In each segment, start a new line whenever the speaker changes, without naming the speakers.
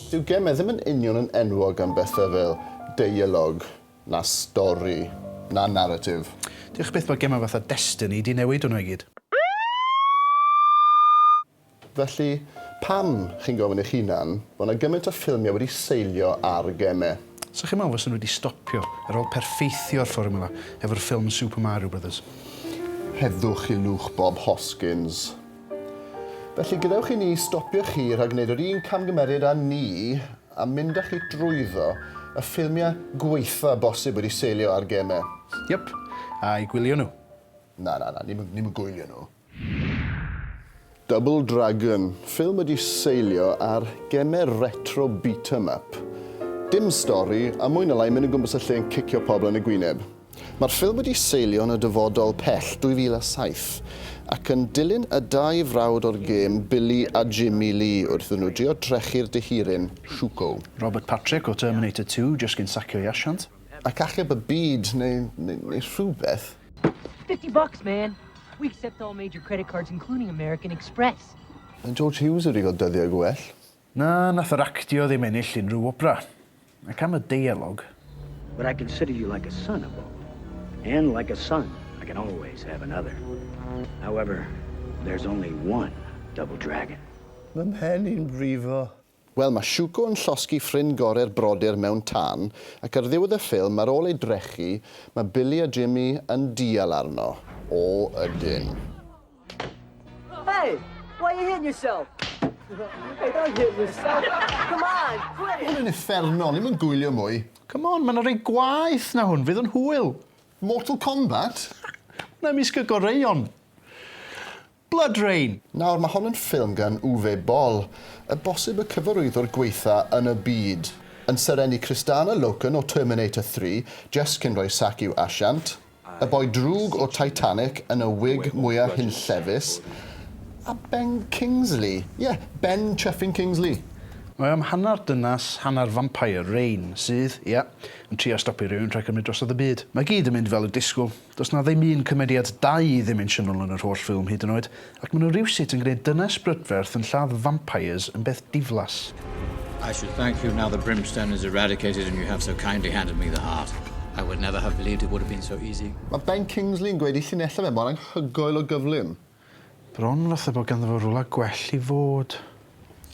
Dyw geme ddim yn union yn enwog am bethau fel deialog, na stori, na naratif. Diolch byth bod gemau fatha Destiny 'di newid hwnnw i gyd. Felly, pam, chi'n gofyn eich hunan, bod 'na gymaint o ffilmiau wedi seilio ar geme? 'Sa chi'n meddwl fysen nhw wedi stopio ar ôl perffeithio'r fformwla efo'r ffilm Super Mario Brothers. Rhedwch i lwch Bob Hoskins. Felly, gadewch i ni stopio chi rhag gwneud yr un camgymeriad â ni a mynd â chi drwyddo y ffilmiau gwaetha' bosib wedi seilio ar gemau. Yep, a'i gwylio nhw. Na, na, na, ni'm yn gwylio nhw. Double Dragon, ffilm wedi seilio ar gemer retro beat 'em up. Dim stori, a mwy na lai mynd o gwmpas y lle yn cicio pobl yn y gwyneb. Mae'r ffilm wedi seilio yn y dyfodol pell, 2007, ac yn dilyn y dau frawd o'r gêm, Billy a Jimmy Lee, wrth iddyn nhw drio drechu'r dihiryn, Shuko. Robert Patrick o Terminator Two jyst cyn sacio ei asiant. ac achub y byd neu, neu, neu rhywbeth. Fifty bucks, man! We accept all major credit cards including American Express. Mae George Hughes wedi cael dyddiau gwell. Na, nath yr actio ddim ennill unrhyw wobra. Ac am y deialog. But I consider you like a son a Bob. And like a son, I can always have another. However, there's only one Double Dragon. Mae mhen i'n brifo. Wel, mae Shuko yn llosgi ffrind gore'r brodyr mewn tân, ac ar ddiwedd y ffilm, ar ôl ei drechu, mae Billy a Jimmy yn dial arno. O, ydyn. Hey! Why you hitting yourself? Hey, don't hit yourself! Come on, quit it! Hwn yn uffernol, ni'm yn gwylio mwy. Come on, mae 'na rai gwaeth na hwn, fydd yn hwyl. Mortal Kombat? Hwnna ymysg y goreuon. Blood Rain! Nawr, mae hon yn ffilm gan Uwe Boll, y bosib y cyfarwyddwr gwaetha yn y byd, yn serennu Kristanna Loken o Terminator Three, Jess cyn rhoi sac i'w asiant, y boi drwg o Titanic yn y wig mwya hunllefus, a Ben Kingsley, ie, Ben Chuffing Kingsley! Mae o am hanner dynas, hanner vampire, Rain, sydd, ie, yn trio stopio rhywun rhag cymryd drosodd y byd. Mae gyd yn mynd fel y disgwl. Does 'na ddim un cymeriad dau-ddimensiynol yn yr holl ffilm hyd yn oed, ac ma' nhw rywsut yn gwneud dynes brydferth yn lladd vampires yn beth diflas. I should thank you now the brimstone is eradicated and you have so kindly handed me the heart. I would never have believed it would have been so easy. Mae Ben Kingsley yn gweud ei llinellau fe mor anghygoel o gyflym. Bron fatha bod ganddo fo rwla gwell i fod.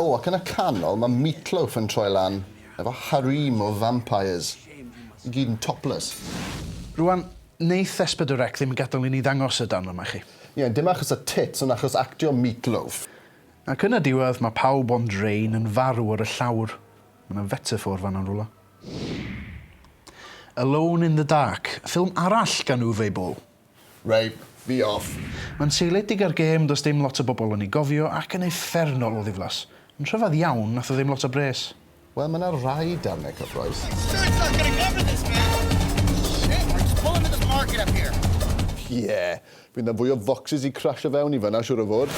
O, ac yn y canol mae Meatloaf yn troi lan efo harem o vampires, i gyd yn topless. Rwan, neith Espedorec ddim gadel i ni ddangos y darn yma chi. Ie, dim achos y tits ond achos actio Meatloaf. Ac yn y diwedd mae pawb ond Rain yn farw ar y llawr. Mae 'na fetaffôr fan'na yn rwla. Alone in the Dark, ffilm arall gan Uwe Boll. Reit, fi off. Mae'n seiliedig ar gêm does dim lot o bobl yn ei gofio ac yn uffernol o ddiflas. Yn rhyfedd iawn, nath o ddim lot o bres. Wel mae 'na rai darnau cyffrous. Ie, fydd 'na fwy o focsys i crasho fewn i fan'na siŵr o fod.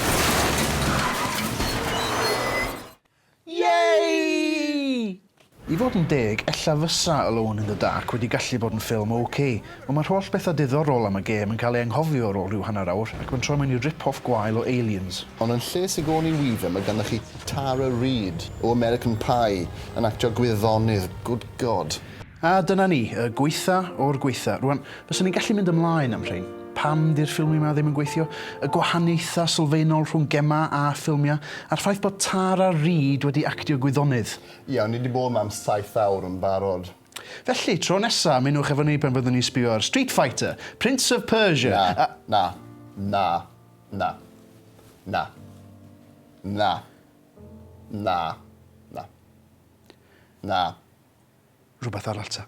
Yay! I fod yn deg, ella fysa Alone in the Dark wedi gallu bod yn ffilm ok, ond mae'r holl bethau diddorol am y gêm yn cael ei anghofio ar ôl rhyw hanner awr ac mae'n troi mewn i rip-off gwael o Aliens. Ond yn lle Sigourney Weaver mae ganddoch chi Tara Reid o American Pie yn actio gwyddonydd, good God! A dyna ni, y gwaetha o'r gwaetha. Rwan, fyswn i'n gallu mynd ymlaen am rhein. Pam 'di'r ffilmie 'ma ddim yn gweithio? Y gwahaniaethau sylfaenol rhwng gemau a ffilmiau, a'r ffaith bod Tara Reid wedi actio gwyddonydd. Iawn, ni 'di bod 'ma am saith awr yn barod. Felly, tro nesa, ymunwch efo ni pan fyddwn ni'n sbio ar Street Fighter, Prince of Persia, Na, a... na, na, na, na, na, na, na, na. rhywbeth arall ta.